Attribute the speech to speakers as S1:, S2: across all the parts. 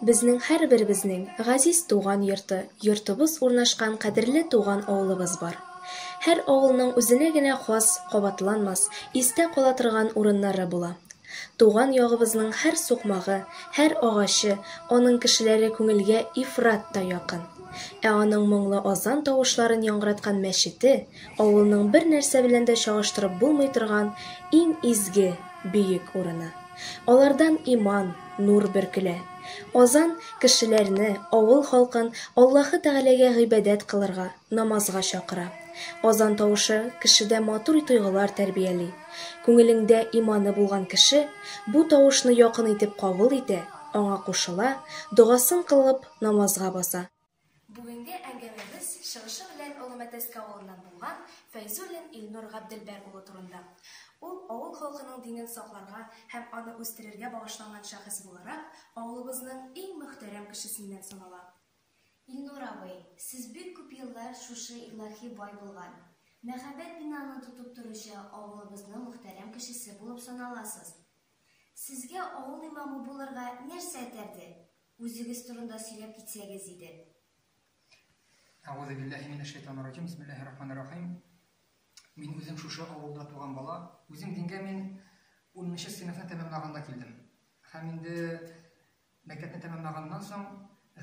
S1: Безнең һәрберебезнең газиз туган йорты, йортыбыз урнашкан кадерле туган авылыбыз бар. Һәр авылның үзенә генә хас, кабатланмас, истә кала торган урыннары була. Туган ягыбызның һәр сукмагы, һәр агачы, аның кешеләре күңелгә ифрат та якын. Ә аның моңлы азан тавышларын яңгыраткан мәчете, авылның бернәрсә белән дә чагыштырып булмый торган иң изге, бөек урыны. Алардан иман, нур бөркелә. Азан, кешеләрне, авыл халкын Аллаһы Тәгаләгә гыйбадәт кылырга, намазга чакыра. Азан тавышы кешедә матур тойгылар тәрбияли. Күңелеңдә иманы булган кеше бу тавышны якын итеп кабул итә, аңа кушыла, догасын кылып, намазга баса. Бүгенге әңгәмәбез чыгышы белән Олы Мәтәскә авылыннан булган Фәйзуллин Илнур Габделбәр улы турында. Ул авыл халкының динен сакларга һәм аны үстерергә багышланган шәхес буларак, авылыбызның иң мөхтәрәм кешесеннән санала. Илнур
S2: абый, сез бик күп еллар шушы илаһи бай булган, мәһабәт бинаны тотып торучы авылыбызның мөхтәрәм кешесе булып саналасыз. Сезгә авыл имамы булырга нәрсә этәрде? Үзегез турында сөйләп китсәгез иде.
S3: Әгузубиллахи минәшшәйтанирраҗим, бисмиллахи рахманир рахим. Мин үзем шушы авылда туган бала. Үзем дингә мин 10 нчы сыйныфны тәмамлаганда килдем. Һәм инде мәктәпне тәмамлаганнан соң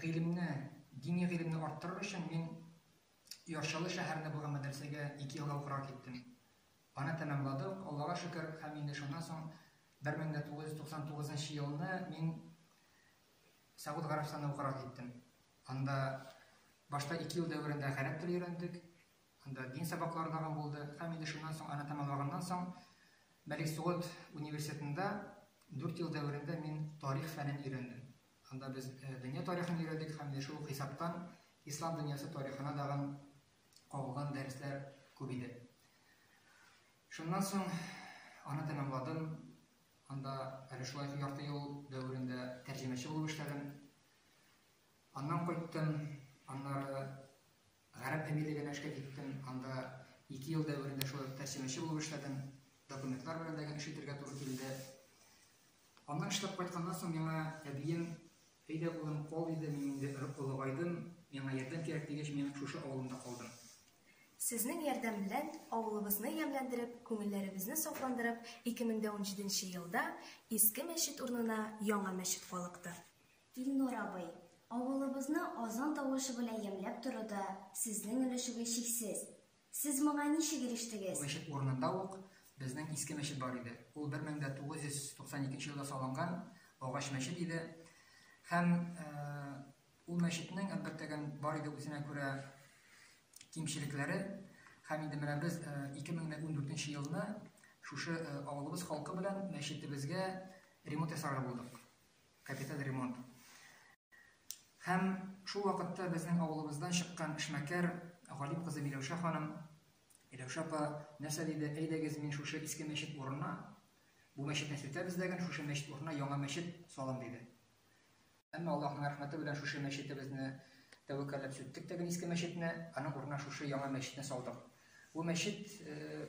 S3: гыйлемне, дини гыйлемне арттырыр өчен мин Ярчалы шәһәрендә булган мәдрәсәгә ике елга укырга киттем. Аны тәмамладык, Аллага шөкер, һәм инде шуннан соң 1999 нчы елны мин Сәгуд Гарәбстанына укырга киттем. Анда башта ике ел дәверендә гарәп теле өйрәндек, анда дин сабаклары тагын булды, һәм инде шуннан соң аны тәмамлаганнан соң Мәлик Сугуд университетында дүрт ел дәверендә мин тарих фәнен өйрәндем. Анда без дөнья тарихын өйрәдек һәм инде шул хисаптан ислам дөньясы тарихына тагын кагылган дәресләр күп иде. Шуннан соң аны тәмамладым. Анда әле шулай ярты ел дәверендә тәрҗемәче булып эшләдем. Аннан кайттым, аннары гарәп әмирлегенә эшкә киттем. Анда ике ел дәверендә шулай тәрҗемәче булып эшләдем. Документлар белән дә эш итәргә туры килде. Аннан эшләп кайтканнан соң миңа әбием, Әйдә, улым, кал, диде, мин инде олыгайдым, миңа ярдәм кирәк, дигәч, мин шушы авылымда калдым. Сезнең
S1: ярдәм белән авылыбызны ямьләндереп, күңелләребезне сафландырып, 2017 нче елда иске мәчет урынына яңа мәчет калыкты. Илнур
S2: абый, авылыбызны азан тавышы белән ямьләп торуда сезнең өлешегез чиксез. Сез моңа ничек ирештегез? Бу мәчет урынында ук
S3: безнең иске мәчет бар иде. Ул 1992 елда салынган агач мәчет иде. Һәм ул мәчетнең, әлбәттә, бар иде үзенә күрә кимчелекләре. Һәм инде менә без 2014 елны шушы авылыбыз халкы белән мәчетебезгә ремонт ясарга булдык. капиталь ремонт һәм шул вакытта безнең авылыбыздан чыккан эшмәкәр Галип кызы Миләүшә ханым Миләүшә апа нәрсә диде, әйдәгез мин шушы иске мәчет урынына, бу мәчетне сүтәбез дәген, шушы мәчет урынына яңа мәчет салам диде. Әмма Аллаһның рәхмәте белән шушы мәчетебезне тәвәккәлләп сүттек тәген иске мәчетне, аның урынына шушы яңа мәчетне салдык. Бу мәчет э,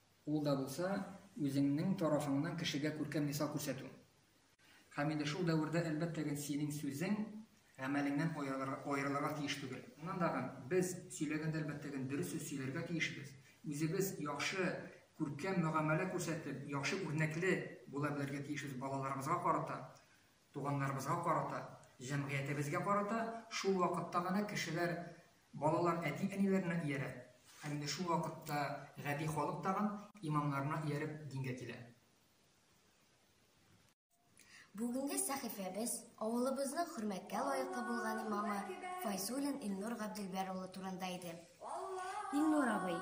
S3: Ул да булса, үзеңнең тарафыңнан кешегә күркәм мисал күрсәтү. Камилә, шул дәвердә, әлбәттә гел синең сүзең, гамәлеңнән аерылырга тиеш түгел. Моннан да гын, без, сөйләгәндә, әлбәттә гел дөрес сүз сөйләргә тиешбез. Үзебез яхшы, күркәм мөгамәлә күрсәтеп, яхшы үрнәкле була белергә тиешбез балаларыбызга карата. Туганнарыбызга карата, җәмгыятебезгә карата шул вакытта гына кешеләр, балалар әти-әниләренә иярә, һәм инде шул вакытта гади халык тагын имамнарына ияреп дингә килә.
S2: Бүгенге сәхифәбез авылыбызның хөрмәткә лаеклы булган имамы Файзуллин Илнур Габделбәр улы турында иде. Илнур абый,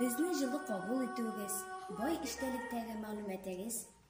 S2: безне җылы кабул итүегез, бай эчтәлектәге мәгълүматыгыз,